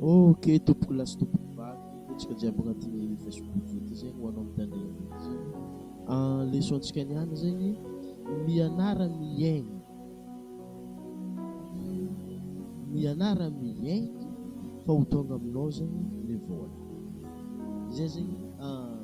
Ok tompoko lahy sy tompoko vavy hetsika jiaby agnatin'ny Facebook ity zegny ho anao mitandregny ity zegny ah, leçon ntsika niany zegny mianara miaigny mianara miaigny fa ho tonga aminao zegny le vôla zay zegny ah.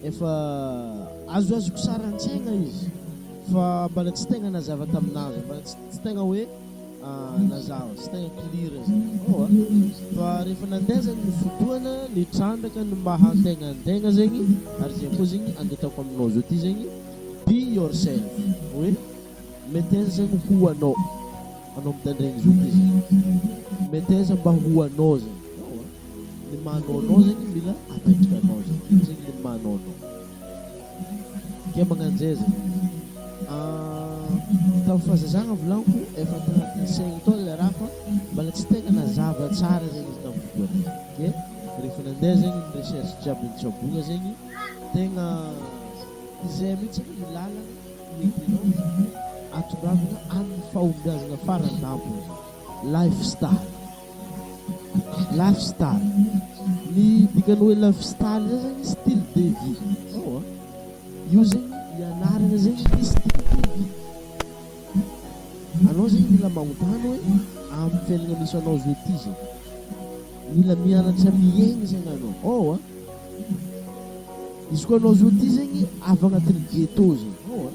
Efa azoazoko sary an-tsaina izy fa mbala tsy tegna nazava tamin'azo, mbala tsy tegna hoe nazava, tsy tegna clear zany ô a! Fa rehefa nandeha zany ny fotoana, nitrandraka ny maha antegna antegna zegny, ary zay koa zegny andetako aminao zao ty zegny, be yourself, hoe mety aiza zany ho anao, anao mitandraigny zao ty zegny, mety aiza mba ho anao zany. Le manao nao zegny mila apaitranao zegny, ino zegny le manao nao? Kay magnanjay zegny tamin'ny fahazazagna volaniko efa tagnatin'ny saigny tao le raha fa mbala tsy tegna nazava tsara zegny izy tamin'ny fotoagna igny de rehefa nandeha zegny ny recherche jiaby nitsaboigna zegny tegna zay mihitsy anie ny làlagna hoentinao atongavana amin'ny fahombiazagna faran-tampony zany, lifestyle. Life style, ny dikany hoe life style zay zany style de vie zao an, io zegny ny anarana zegny hoe style de vie, anao zegny mila magnontany hoe amin'ny fiainana misy anao zao ty zegny, mila mianatra miaigny zegny anao ao an, izy koa anao zao ty zegny avy agnatin'ny ghetto zegny ao an.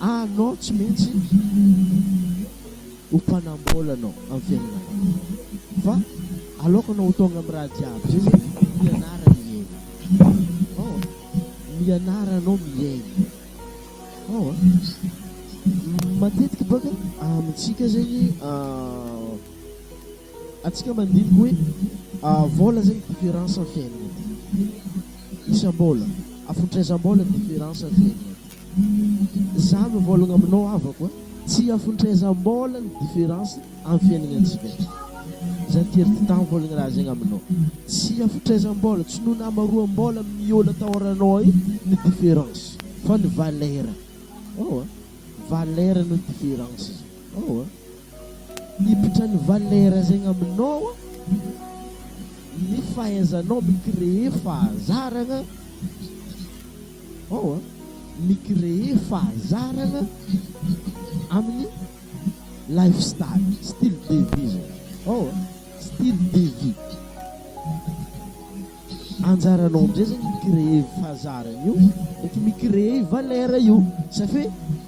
Anao tsy maintsy ho mpanam-bolana amin'ny fiainanao fa aloakanao ho tonga amin'ny raha jiaby zay zany mianara mihaino oh mianara anao mihaino oh matetika baka amintsika zegny atsika mandiniky hoe vola zegny difference amin'ny fiainana isam-bola afotraizam-bola difference amin'ny fiainana. Za mivolagna aminao havako a, tsy hiafontr'aizambola ny difference am fiainagnantsika ty, za ty ry Tita mivolagna raha zegny aminao, tsy hiafontr'aizambola, tsy noho nahamaroambola am ny ol atahoranao io ny difference fa ny valera, ewa, valera no difference zany, ewa. Miditra ny valeur zegny aminao ny fahaizanao mi créer fahazaragna ao a, mi créer fahazaragna amin'ny life style, style de vie zany ao a, style de vie, anjaranao amizay zegny mi créer fahazaragna io ndreky mi créer valeur io, ça fait.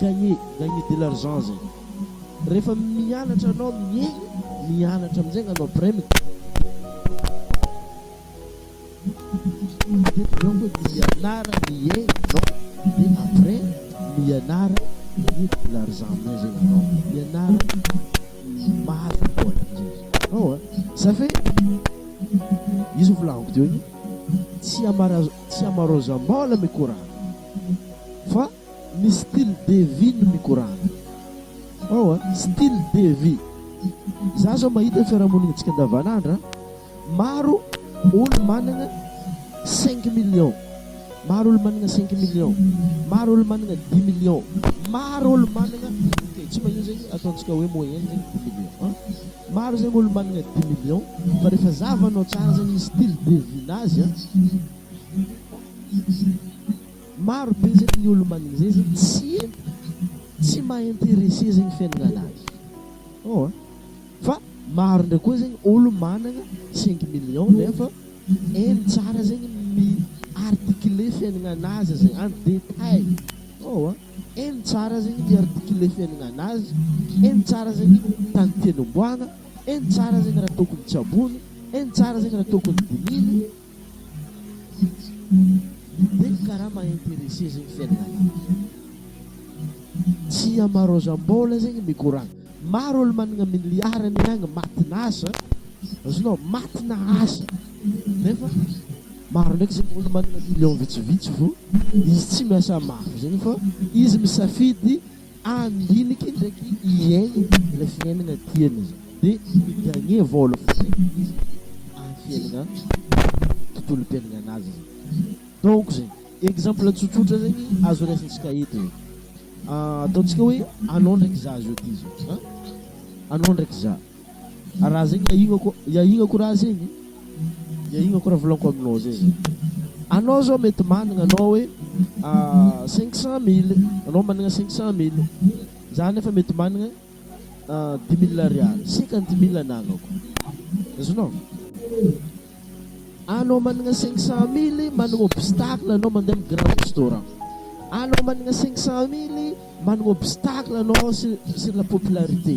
Gagner, gagner de l'argent zay. Rehefa mianatra anao mihehy, mianatra amin'izay angano après mi. Dia tokony hoe mianara mihehy ianao, dia après mianara gagner de l'argent amin'izay zay angano. Mianara mahazo vola amin'izay zay. Ao a! Ça fait io zao volagniko teo io tsy amara tsy amarozam-bola mikorana fa. Ny style de vie no mikorana ao a! Style de vie! Za zao mahita ny fiarahamoninantsika andavanandro a! Maro olo managna cinq millions, maro olo managna cinq millions, maro olo managna dix millions, maro olo managna ok tsy magnino zegny ataontsika hoe moyenne zegny dix millions an! Maro zegny olo managna dix millions fa refa zahavanao tsara zegny ny style de vie nazy a! Maro be zegny ny olo magniny zay zegny tsy tsy maha interesse zegny fiaignana anazy oh an! fa maro ndray koa zegny olo managna cinq millions nefa hainy tsara zegny mi articuler fiaignana anazy zegny en detail oh an! hainy tsara zegny mi articuler fiaignana anazy, hainy tsara zegny tany tiany homboagna, hainy tsara zegny raha tokony tsabony, hainy tsara zegny raha tokony dinihiny. Be ny karama à interesser zegny fiainagna lavitra. Tsy ama Rosambola zegny mikoragna. Maro olo managna milliard aney agny matina asa, azonao, matina asa nefa maro ndraiky zegny olo managna million vitsivitsy fô izy tsy miasa mafy zegny fô izy misafidy Any hiniky ndraiky iey ilay fiainagna tiany de mi gagner vôla fotsiny izy any fiainagna tontolo mpiainagnanazy zegny donc zegny exemple tsotsotra zegny azo raisintsika eto e ataontsika hoe anao ndraiky za zao ty zao an anao ndraiky za. Raha zegny iahignako iahignako raha zegny iahignako raha volagniko aminao zay zegny anao zao mety managna anao hoe cinq cent mille anao managna cinq cent mille za nefa mety managna dix mille ariary cinquante mille anagnako azonao anao managna cinq cent mille managna obstacle anao mandeha amy grand restaurant anao managna cinq cent mille managna obstacle anao sur sur la popularité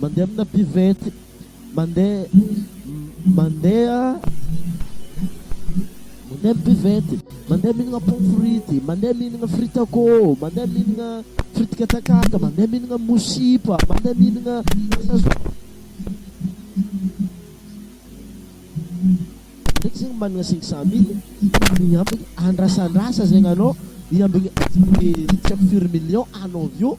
Mandeha amina buvette. Mandeha mandeha mandeha amina buvette. Mandeha mihinagna pomme frite. Mandeha mihinagna frite à côte. Mandeha mihinagna frite katakata. Mandeha mihinagna mosipa. Mandeha mihinagna sazon. Ndraiky zegny managna cinq cent mille ny ambiny andrasandrasa zegny anao ny ambiny tsy haiko firy millions anao avy eo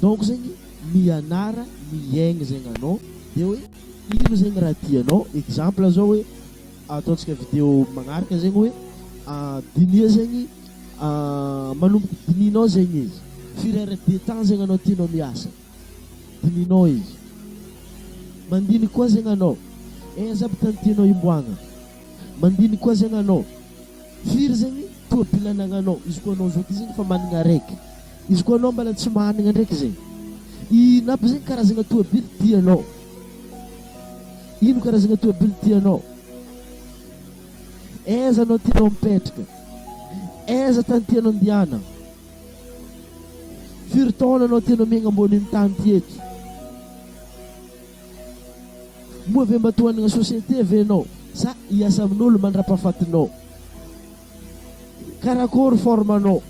Donc zegny mianara miaigny zegny anao de hoe ino zegny raha tianao, exemple zao hoe ataontsika video magnaraka zegny hoe dinia zegny manomboka dinianao zegny izy, firy heure de temps zegny anao tianao miasa, dinianao izy, mandinika koa zegny anao eh aiza aby tany tianao himboagna, mandinika koa zegny anao firy zegny tôbily anagnanao, izy koa anao zao ty zegny efa managna araiky. Izy koa anao mbala tsy managna ndraiky zegny. Ino aby zegny karazagna toabily tianao? Ino karazagna toabily tianao? Aiza anao tianao mipetraka? Aiza tany tianao andiana? Firy taona anao tianao miaigna ambonin'ny tany ty eto? Moa ve mba tohanagna société ve anao sa hiasa amin'olo mandra-pahafatinao? Karakory forme nao,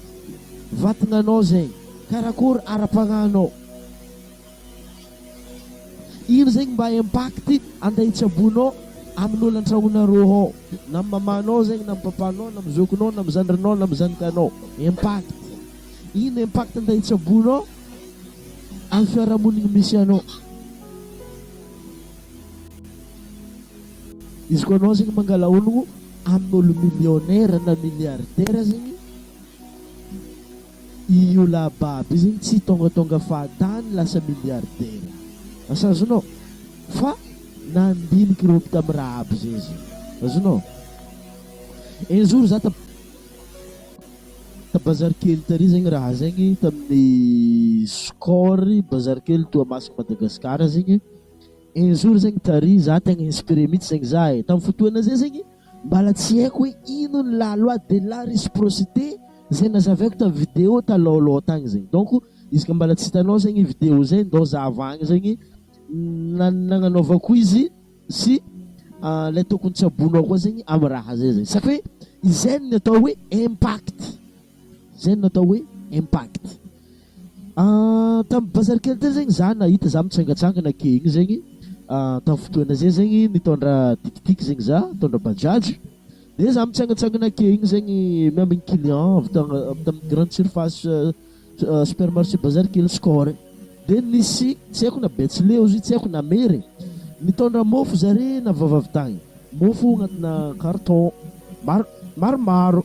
vatagna nao zegny, karakory ara-pagnahy nao, ino zegny mba impact ande hitsabo nao aminy olo antragnona rô hao, na amy maman nao zegny, na amy papa nao, na amy zoky nao, na amy zandry nao, na amy zanaka nao, impact, ino impact ande hitsabo nao amy fiarahamonigny misy anao. Izy koa anao zegny mangala ologno amin'olo millionnaire na milliardaire zegny, i io lahy babo io zegny tsy tongatonga fahatany lasa milliardaire, asa azonao? Fa nandiniky ireo avy tamin'ny raha aby zay izy, azonao? Un jour za ta- ta bazary kely tary zegny raha zegny tamin'ny score bazary kely Toamasina Madagasikara zegny. Un jour zegny tary za tegna inspiré mitsy zegny za e, tam fotoana zay zegny mbala tsy haiko hoe ino ny la loi de la reciprocité zay nazavaiko tam vidéo talaoloha tagny zegny donc izy ka mbala tsy hitanao zegny vidéo zay ndao zahavagna zegny nagnanaovako izy sy le tokony tsy abonoa koa zegny am raha zay zegny satria izay no atao hoe impact, zay no atao hoe impact. Tamin'ny bazary kely teo zegny za nahita za mitsangatsangana ake igny zegny, tamin'ny fotoana zay zegny nitondra tikitika zegny za, nitondra bajaj, de za mitsangatsangana ake igny zegny miambigny client avy ta- avy tamin'ny grande surface supermarché bazary kely score e, de nisy tsy haiko na betsileo izy io tsy haiko na mery e, nitondra mofo zare na vavavy tagny, mofo agnatinà carton mar- maromaro.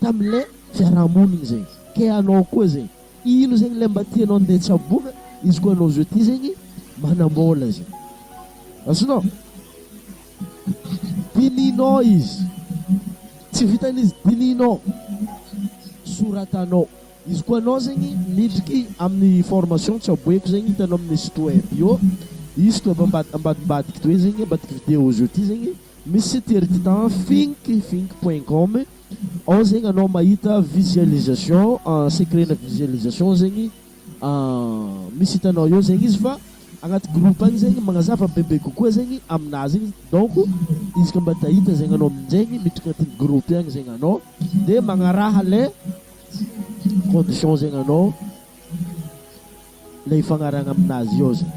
Tamle fiarahamoniny zay ke hanao koa zay ino zegny le mba tianao nde tsaboina izy koa anao zao ty zegny manambola zay azonao dinihinao izy tsy vitan'izy dinihinao soratanao izy koa anao zegny midriky aminy formation tsaboeko zegny hitanao aminy site web io izy koa ambad ambadimbadiky toy zegny ambadiky video zao ty zegny misy site ery ty tan fink fink point com Ao zegny anao mahita visualisation secret na visualisation zegny misy hitanao eo zegny izy fa agnaty groupe agny zegny magnazava bebe kokoa zegny aminà zegny donc izy koa mba ta hita zegny anao amin-jaigny miditra agnatin'ny groupe agny zegny anao de magnaraha le condition zegny anao le ifagnarahagna aminazy eo zegny.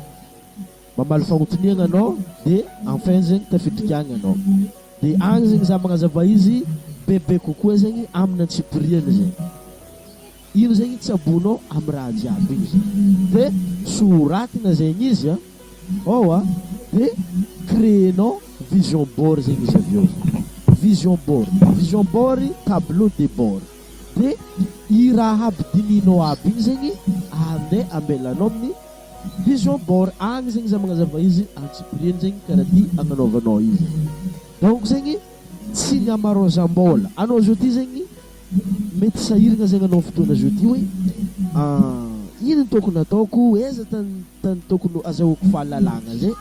Mamaly fagnontoniagna anao de enfin zegny tafitrik'agny anao de agny zegny za magnazava izy bebe kokoa zegny aminy antsipiriany zegny ino zegny tsaboinao amy raha jiaby igny zegny de soratagna zegny izy a oa de créer-nao vision board zegny izy aveo zegny vision board vision board tableau de bord de i raha aby dinihinao aby igny zegny ande ambelanao amin'ny Vision board agny zegny za magnazava izy antsipiriany zegny karaha ty agnanaovanao izy donc zegny tsy ny amarozambôla anao zao ty zegny mety sahiragna zegny anao fotoagna zao ty hoe ino tokony ataoko aiza tany tany tokony azahoako fahalalagna zay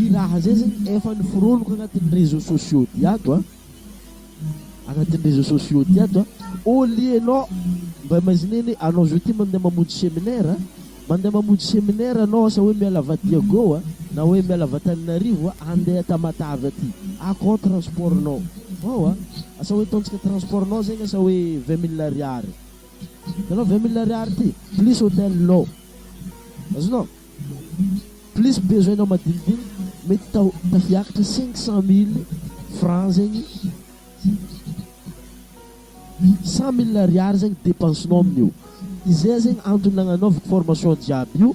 i raha zay zegny efa niforoniko agnatin'ny réseaux sociaux ty ato a. Agnatin'ny réseaux sociaux ty ato a! Au lieu anao mba imaginez-ny anao zao ty mandeha mamonjy séminaire a, mandeha mamonjy séminaire anao asa hoe miala Vadiago a, na hoe miala Antananarivo a, andeha Tamatave aty, akao transport-nao, ao a! asa hoe ataontsika transport-nao zegny asa hoe vingt mille ariary, hitanao vingt mille ariary ty, plus hôtel-nao, azonao? Plus besoin nao madinidinika mety tafiakatra cinq cent mille franc zegny cent mille ariary zegny depense nao amin'io izay zegny antony nagnanaovako formation jiaby io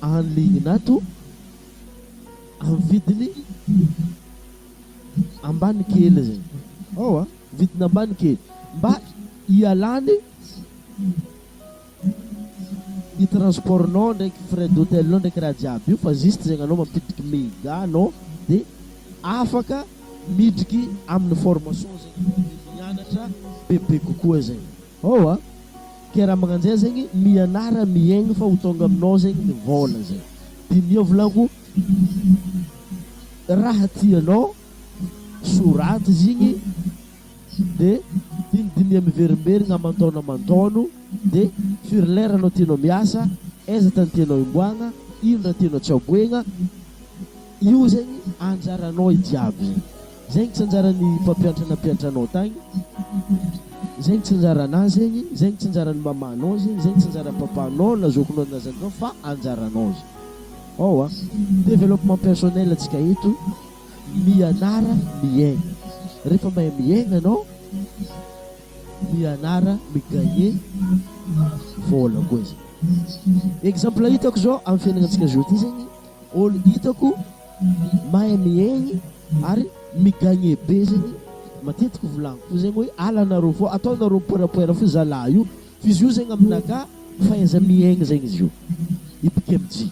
en ligne nato amin'ny vidiny ambany kely zegny ewa vidiny ambany kely mba hialany Ny transport nao ndraiky frais d'hôtel nao ndraiky raha jiaby io fa juste zegny anao mampiditry mega nao de afaka miditry aminy formation zegny anao de mianatra bebe kokoa zegny ôa ke raha magnanjay zegny mianara miaigny fa ho tonga aminao zegny ny vôla zay diniho volako raha tianao soraty zigny de dinidinia miverimberigna aman-taogno aman-taogno de firy lera anao tianao miasa, aiza tany tianao himboagna, ino raha tianao tsy aboegna, io zegny anjaranao i jiaby zegny, zegny tsy anjaran'ny mpampiantra nampiantra anao tagny, zegny tsy anjaranà zegny, zegny tsy anjaran'ny mamanao zegny, zegny tsy anjaran'ny papanao na zokinao na zandrinao fa anjaranao zegny, ao a, développement personnel antsika eto. Mianara miaigna. Rehefa mahay miaigna anao, mianara mi-gagner vôla koa zany. Exemple hitako zao amin'ny fiainagnantsika zao ty zegny, ôlo hitako mahay miaigny ary mi-gagner be zegny, matetiky volagniko fo zegny hoe alanareo fô, ataonareo poerapoera fo zalahy io, f'izy io zegny aminakà fahaiza-miaigny zegny izy io, i Bekemji.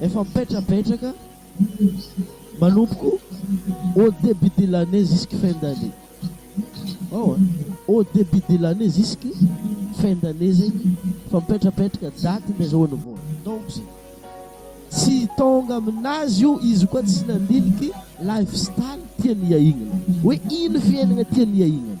Efa mipetrapetraka manompoko au debut de l'année jusque fin d'année ao a! au debut de l'année jusque fin d'année zegny efa mipetrapetraka date nde azahoany vola donc zay tsy tonga aminazy io izy koa tsy nandiniky life style tiany hiahignana hoe ino fiainagna tiany hiahignana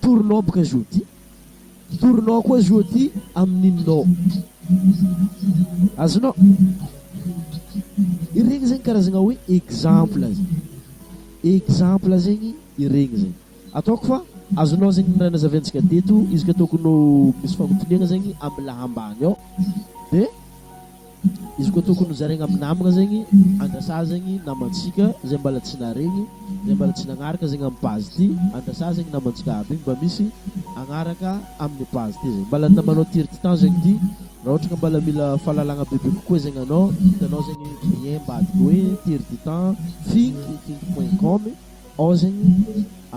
Torinao boka Jody. Torinao koa Jody am Nino. Azonao. Iregny zegny karazagna hoe exemple zegny. Exemple zegny iregny zegny. Ataoko fa azonao zegny ny raha nazaviantsika teto izy ka tokony ho misy fagnotoniagna zegny am laha ambany ao. Dia. Izy koa tokony ho zaraigna amy namagna zegny, andrasa zegny namantsika zay mbala tsy naharegny, zay mbala tsy nagnaraka zegny amy page ty, andrasa zegny namantsika aby mba misy agnaraka aminy page ty zegny, mbala ny namanao ty ry titan zegny ty, raha ohatra ka mbala mila fahalalagna bebe kokoa zegny anao, hitanao zegny lien mbadika hoe ty ry titan finkifinky point com ao zegny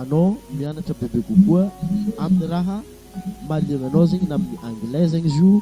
anao mianatra bebe kokoa aminy raha mahaliagna anao zegny na aminy anglais zegny izy io,